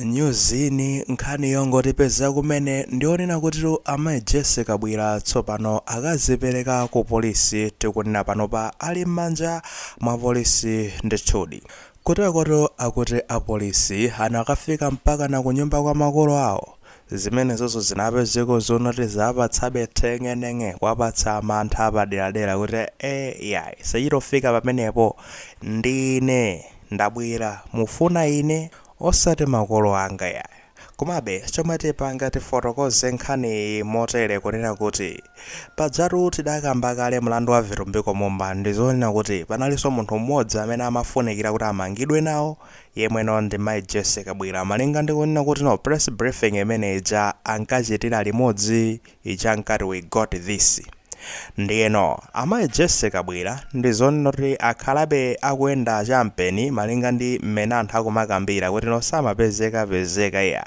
Nyuzini, Nkhani yongotipeza kumene ndi yonena kuti amayi Jessie Kabwila tsopano akazipereka ku polisi tikunena panopa ali m'manja mwa polisi ndithudi. Kutekoto akuti apolisi anakafika mpakana kunyumba kwa makolo awo? Zimenezozo zinapezeka zonoti zawapatsabe theng'eneng'e kuwapatsa mantha apaderadera kuti ee iyayi sichitofika pamenepo ndine! Ndabwera, mufuna ine, osati makolo anga yayi. Komabe, chomwe tipanga tifotokoze nkhaniyi motere kunena kuti, pajatu tidakamba kale mlandu wa Vitumbiko Mumba ndizonena kuti panalinso munthu mmodzi amene amafunikira kuti amangidwe nawo yemweno ndi Mai Jessie Kabwila malinga ndi kunena kuti no press briefing imene ija ankachitira limodzi ija ankati we got this ndiyeno amayi Jessie Kabwila ndizonena kuti akhalabe akuyenda champeni malinga ndi mmene anthu akumakambira kuti no samapezeka pezeka iya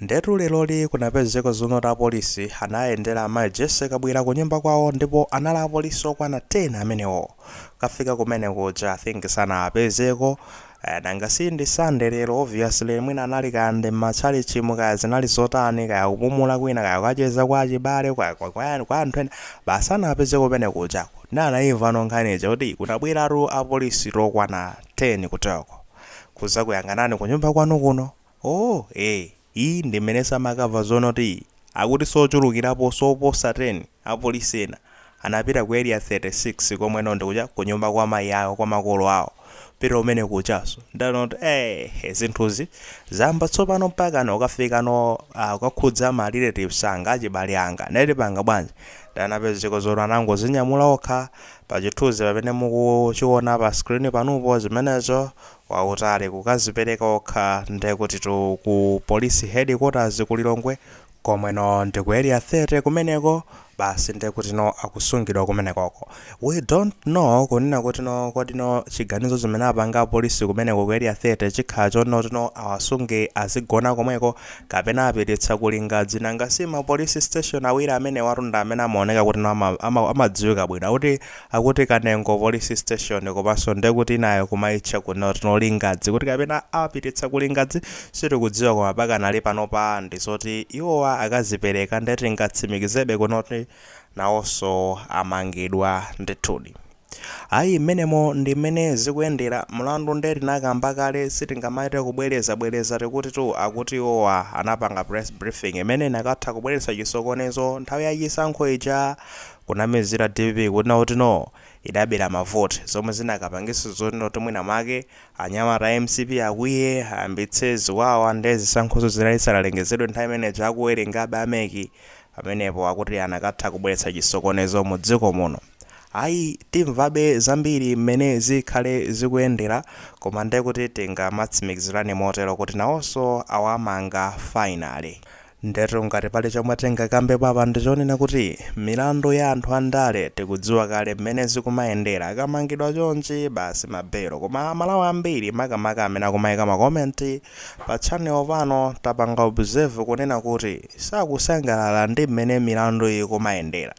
ndetu leroli kunapezeka zonoti apolisi anayendera amayi Jessie Kabwila kunyumba kwawo ndipo anali apolisi okwana 10 amenewo kafika kumene kuja I think sanawapezeko Kaya nanga si ndi Sunday lero obviously mwina anali kaya ndi mma tchalitchimu kaya zinali zotani kaya kupumula kwina kaya kukacheza kwa achibale kaya kwa kwa yani kwa anthu ena basi anapezeka kumene kujako nde anaimvano nkhani ija kuti kunabweratu apolisi okwana 10 kuteko kuzakuyang'anani kunyumba kwanu kuno oh eh Iyi ndi mmenenso amakamva zonoti akutinso ochulukiraponso oposa 10 apolisi ena anapita ku area 36 komweno ndikuja kunyumba kwa mayi awo kwa makolo awo apita kumene kujanso nde anati eeh zinthuzi zayamba tsopano mpakana kukafikano aah kukakhudza ma relatives anga achibale anga nde tipanga bwanji nde anapezeka zoti anangozinyamula okha pa chithunzi pamene mukuchiona pa screen panupo zimenezo wautali kukazipereka okha ndekutitu ku police headquarters ku Lilongwe komweno ndi ku area 30 kumeneko basi ndekutino akusungidwa kumenekoko we don't know kunena kutino kodino chiganizo chimene apanga apolisi kumeneko ku area 30 chikhala chonotino awasunge adzigona komweko kapena awapititsa ku Lingadzi nanga si ma police station awiri amenewatu ndi amene amaoneka kutino ama, ama, amadziwika bwino akuti Akuti Kanengo police station komanso ndekuti inayo kumaitcha kunoti no Lingadzi kuti kapena awapititsa ku Lingadzi sitikudziwa koma pakanali panopa ndizoti iwowa akazipereka nde tingatsimikizebe kunoti nawonso amangidwa ndithudi. Ayi mmenemo ndi mmene zikuyendera, mlandu nde tinakamba kale sitingamachite kubwereza bwereza tikuti tu akuti iwowa anapanga press briefing imene inakatha kubweretsa chisokonezo nthawi ya chisankho ija Kunamizira dpp kunena kuti no idabera ma vote zomwe zinakapangisa zonena kuti mwina mwake anyamata a mcp akwiye ayambitse ziwawa nde zisankhozo zinali zisanalengezedwe nthawi imeneja akuwerengabe a mec pamenepo akuti anakatha kubweretsa chisokonezo mu dziko muno ayi timvabe zambiri mmene zikhale zikuyendera koma ndekuti tingamatsimikizirane motero kuti nawonso awamanga finally. Ndetu ngati pali chomwe tingakambepo apa ndichonena kuti milandu ya anthu andale tikudziwa kale mmene zikumayendera akamangidwa chonchi basi ma belo koma amalawi ambiri makamaka amene akumaika ma comment pa channel pano tapanga observe kunena kuti sakusangalala ndi mmene milandu ikumayendera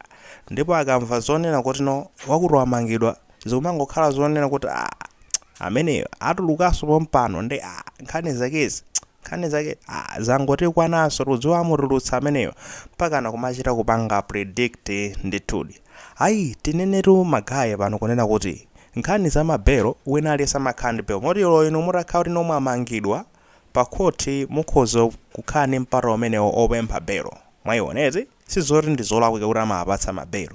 ndipo akamva zonena kuti no wakuti wamangidwa zikumangokhala zonena kuti aah ameneyo atulukaso pompano nde aah nkhani zakezi Nkhani zake aah zangotikwananso tikudziwa amutulutsa ameneyo mpakana kumachita kupanga predict ndithudi. Ayi tinenetu ma guy pano kunena kuti nkhani za ma bail wina aliyense amakhala ndi bail moti olo inu mutakhala kuti no mwamangidwa pa court mukhoza kukhala ndi mpata umenewo opempha bail mwaiona eti sizoti ndizolakwika kuti amawapatsa ma bail.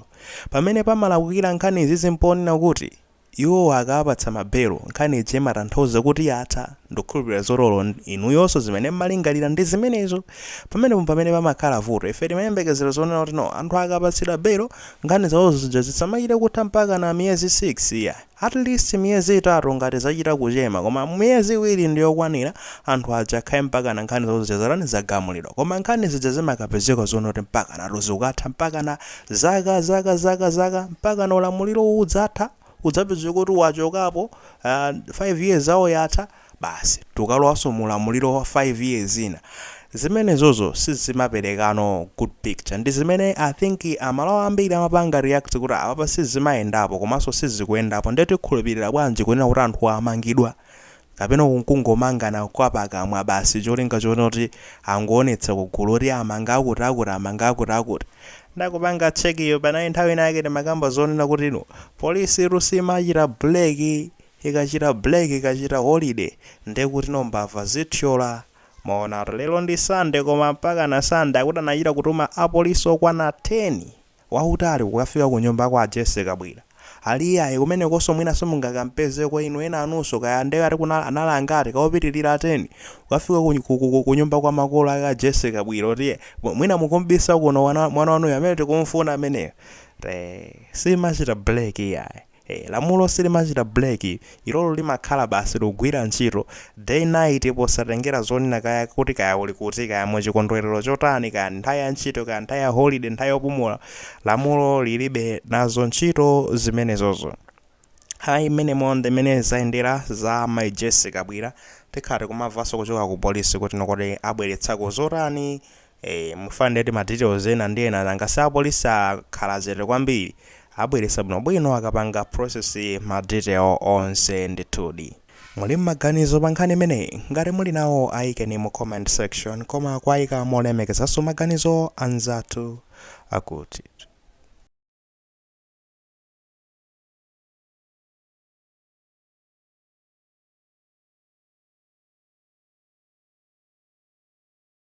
Pamene pamalakwikira nkhani izizi mponena kuti Iwowa akawapatsa ma bail nkhani ija imatanthauza kuti yatha. Ndikhulupilira zoti olo inuyonso zimene mmalingalira ndi zimenezo. Pamenepo mpamene pamakhala vuto. Ife timayembekezera zonena kuti no, anthu akapatsidwa bail, nkhani zawozo zija zisamachite kutha mpakana miyezi 6 iyayi. At least miyezi itatu ngati zachita kuchema koma miyezi iwiri ndi yokwanira, anthu aja akhale mpakana nkhani zawo zija zatani, zagamulidwa. Koma nkhani zija zimakapezeka zonena kuti mpakanatu zikukatha mpakana Zaka, zaka, zaka, zaka, mpakana ulamuliro uwu udzatha, udzapezeka kuti wachokapo, a, 5 years yawo yatha, basi tukalowanso mu ulamuliro wa 5 years ina. Zimenezozo sizimaperekano good picture. Ndi zimene I think a Malawi ambiri amapanga react kuti apapa sizimayendapo komanso sizikuyendapo. Nde tikhulupirira bwanji kunena kuti anthuwa amangidwa Kapena uku nkungomangana kwa pakamwa basi cholinga choona kuti angoonetsa ku gulu kuti amanga akuti akuti amanga akuti akuti. Ndakupanga check iwe panali nthawi ina yake timakamba zonena kuti no police tu simachita break ikachita break ikachita holiday ndiye kuti no mbava zithyola mwaonatu lero ndi Sunday koma mpakana Sunday akuti anachita kutuma apolice okwana 10 wautali kukafika ku nyumba kwa a Jessie Kabwila. Ali iyayi, kumenekonso mwina simungakampezeko inu enanunso kaya nde akuti kuna, anali angati, ka opitilira 10? Kukafika ku nyumba kwa makolo ake a Jessie Kabwila kuti iye, mwina mukumbisa kuno mwana wanuyu, amene tikumfuna ameneyo. Ee, siimachita break iyayi. ee lamulo silimachita break ilolo limakhala basi likugwira ntchito day night posatengera zonena kaya kuti kaya uli kuti kaya mu chikondwelero chotani kaya nthawi ya ntchito kaya nthawi ya holiday nthawi yopumula lamulo lilibe nazo ntchito zimenezozo ayi mmenemo ndi mmene zayendera za mai jessie kabwila tikhala tikumamvaso kuchoka ku polisi kuti kodi abweretsako zotani Eee mufa nde tima details ena ndi ena nanga si apolisi akhala chete kwambiri abweretsa bwino bwino akapanga process ma detail onse ndithudi. Muli mmaganizo pa nkhani imeneyi? Ngati muli nawo ayikeni mu comment section koma kuwayika molemekezaso maganizo anzathu akuti.